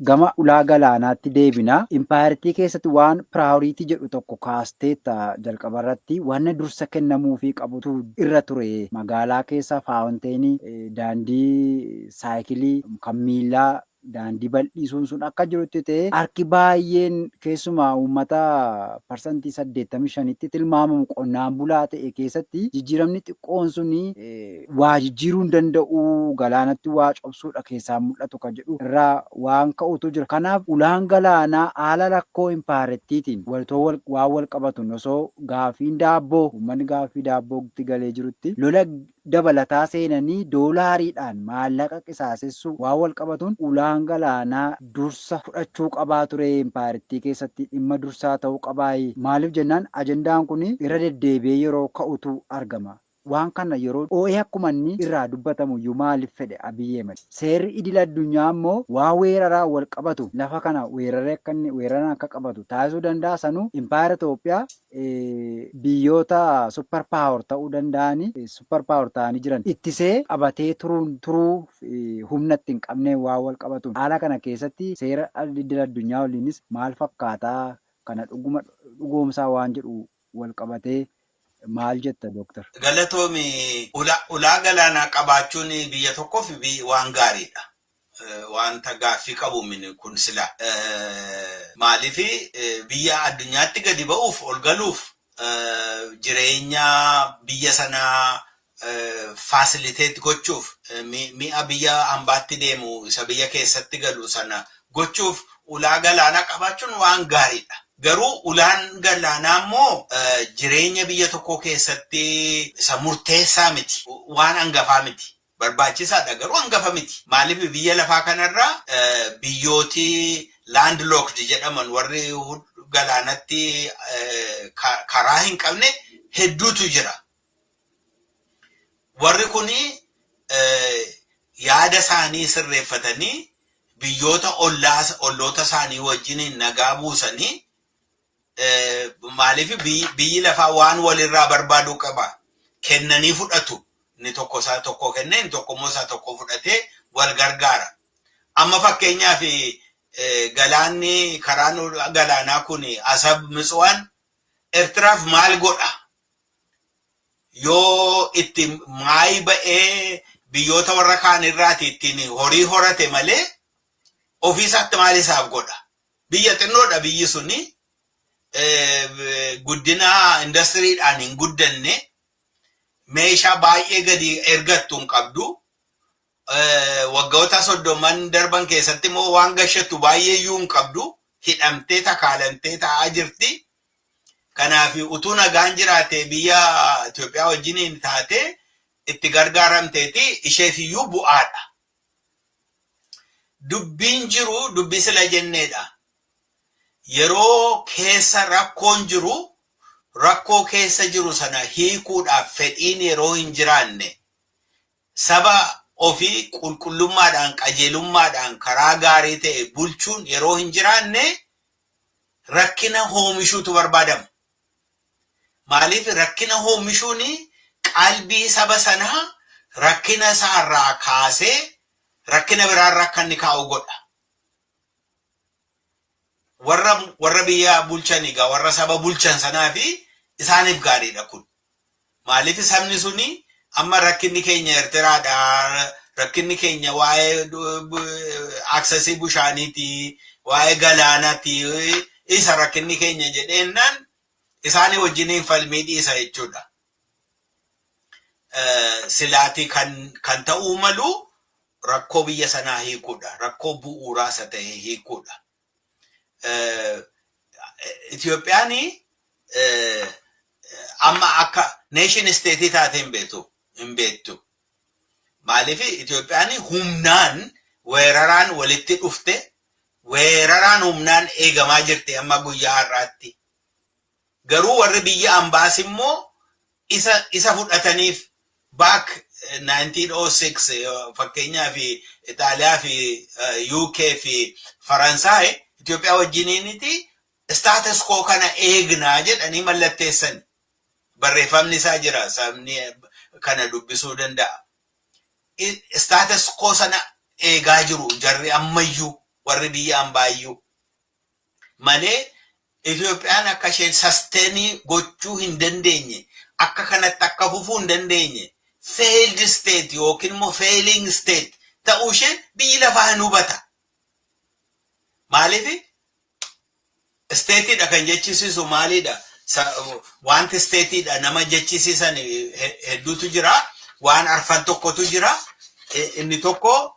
Gama ulaa galaanaatti deebina. Impaayerittii keessatti waan piraayoriitii jedhu tokko kaasteetta jalqabarratti. Wanna dursa kennamuufii qabutu irra ture. Magaalaa keessa faawunteenii, daandii saayikilii, kan miillaa, daandii bal'iisuun sun akka jirutti ta'ee harki baay'een keessumaa uummata parsantii 85tti tilmaamamu qonnaan bulaa ta'e keessatti jijjiiramni xiqqoon sun waa jijjiiruu hin danda'u, galaanatti waa cobsuudha keessaan mul'atu kan jedhu irraa waan ka'utu jira. Kanaaf ulaan galaanaa haala rakkoo impaayerattiitiin walitoo waan wal qabatuun osoo gaaffiin daabboo uummanni gaaffii daabbootti galee jirutti lola dabalataa seenanii doolaariidhaan maallaqa qisaasessuu waan wal qabatuun ulaan galaanaa dursa fudhachuu qabaa ture impaayerattii keessatti dhimma dursaa ta'uu qabaayi. Maaliif jennaan ajandaan kun irra deddeebi'ee yeroo ka'utu argama. Waan kanna yeroo dhoohee akkuma inni irraa dubbatamu iyyuu maalif fedhe Abiy Ahmed? Seerri idil addunyaa immoo waan weeraraan wal qabatu lafa kana weeraree akka inni weeraraan akka qabatu taasisuu danda'a sanuu Empire Itoophiyaa biyyoota super power ta'uu danda'ani super power ta'anii jiran ittisee qabatee turuun turuu humna itti hin qabneen waan wal qabatuun haala kana keessatti seera idil addunyaa waliinis maal fakkaataa kana dhuguma dhugoomsaa waan jedhu wal qabatee maal jetta Doktar? Galatoomi. Ulaa galaanaa qabaachuun biyya tokkoof waan gaariidha. Wanta gaaffii qabu miti kun silaa. Maaliif biyya addunyaatti gadi ba'uuf, ol galuuf jireenya biyya sanaa facilitate gochuuf mi'a biyya ambaatti deemu isa biyya keessatti galu sana gochuuf ulaa galaanaa qabaachuun waan gaariidha. Garuu ulaan galaanaa immoo jireenya biyya tokkoo keessatti isa murteessaa miti. Waan hangafaa miti. Barbaachisaadha garuu hangafa miti. Maaliif biyya lafaa kanarra biyyooti landlocked jedhaman warri galaanatti karaa hin qabne hedduutu jira. Warri kun yaada isaanii sirreeffatanii biyyoota olloota isaanii wajjin nagaa buusanii maaliif biyyi lafaa waan walirraa barbaadu qaba. Kennanii fudhatu. Inni tokko isaa tokko kennee inni tokko immoo isaa tokko fudhatee wal gargaara. Amma fakkeenyaaf galaanni karaan galaanaa kun asab mitsuwaan Ertiraaf maal godha? yoo itti maayi ba'ee biyyoota warra kaan irraati ittiin horii horate malee ofiisaatti maal isaaf godha. Biyya xinnoodha biyyi suni guddina indastiriidhaan hin guddanne meeshaa baay'ee gadi ergattu hin qabdu. Waggoota soddomman darban keessatti immoo waan gashattu baay'ee iyyuu hin qabdu. Hidhamtee takaalamtee taa'aa jirti. Kanaaf utuu nagaan jiraate biyya Itoophiyaa wajjiniin taate itti gargaaramteeti isheef iyyuu bu'aadha. Dubbiin jiru dubbii sila jenneedha. Yeroo keessa rakkoon jiru rakkoo keessa jiru sana hiikuudhaaf fedhiin yeroo hin jiraanne Saba ofii qulqullummaadhaan, qajeelummaadhaan, karaa gaarii ta'e bulchuun yeroo hin jiraanne rakkina hoomishuutu barbaadama. Maaliif rakkina hoomishuun qalbii saba sanaa rakkina isaa irraa kaasee rakkina biraa irra akka inni kaa'u godha. warra warra biyya bulchan egaa warra saba bulchan sanaa fi isaaniif gaariidha kun. Maaliif sabni suni amma rakkinni keenya Ertiraadha rakkinni keenya waa'ee aksesii bushaaniiti waa'ee galaanaati isa rakkinni keenya jedheennaan isaanii wajjiniin falmii dhiisa jechuudha. silaati kan kan ta'uu malu rakkoo biyya sanaa hiikuudha. Rakkoo bu'uuraa isa ta'e hiikuudha. Itoophiyaan amma akka neeshin isteetii taatee hin beektu. Hin beektu. Maaliif Itoophiyaan humnaan weeraraan walitti dhufte weeraraan humnaan eegamaa jirti amma guyyaa har'aatti. Garuu warri biyya ambaas immoo isa isa fudhataniif back 1906 fakkeenyaaf Itaaliyaa fi UK fi Faransaay Itoophiyaa wajjiniiniti status quo kana eegnaa jedhanii mallatteessan barreeffamni isaa jira sabni kana dubbisuu danda'a. Status quo sana eegaa jiru jarri ammayyuu warri biyya ambaayyuu. malee Itoophiyaan akka isheen sustain gochuu hin dandeenye akka kanatti akka fufuu hin dandeenye failed state yookiin immoo failing state ta'uu ishee biyyi lafaa hin hubata. Maaliif isteetiidha kan jechisiisu maaliidha? Wanti isteetiidha nama jechisiisan hedduutu jira. Waan arfan tokkotu jira. Inni tokko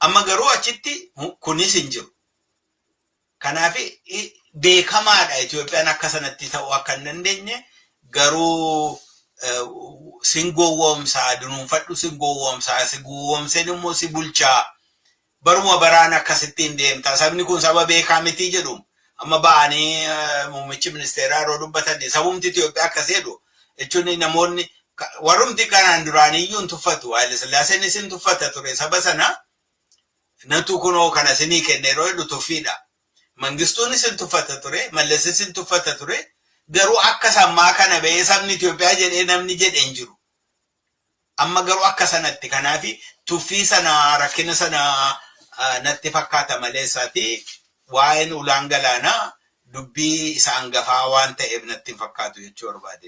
Amma garuu achitti kunis hin jiru. Kanaaf beekamaadha Itoophiyaan akka sanatti ta'uu akka hin dandeenye garuu sin gowwoomsaa dunuunfadhu sin gowwoomsaa si gowwoomseen immoo si bulchaa baruma baraan akkasittiin deemta sabni kun saba beekaa mitii jedhuun Amma ba'anii muummichi ministeeraa yeroo dubbatan sabumti Itoophiyaa akkas jedhu jechuun namoonni warrumti kanaan duraaniyyuu hin tuffatu. Haayile Sillaaseen isin tuffata ture saba sana natu kunoo kana isinii kenne yeroo jedhu tuffiidha. Mangistuun isin tuffata ture, Mallas isin tuffata ture, garuu akka sammaa kana ba'ee sabni Itoophiyaa jedhee namni jedhe hin jiru. Amma garuu akka sanatti kanaafi tuffii sana rakkina sana natti fakkaata malee isaati waa'een ulaan galaanaa dubbii isa angafaa waan ta'eef natti hin fakkaatu jechuu barbaade.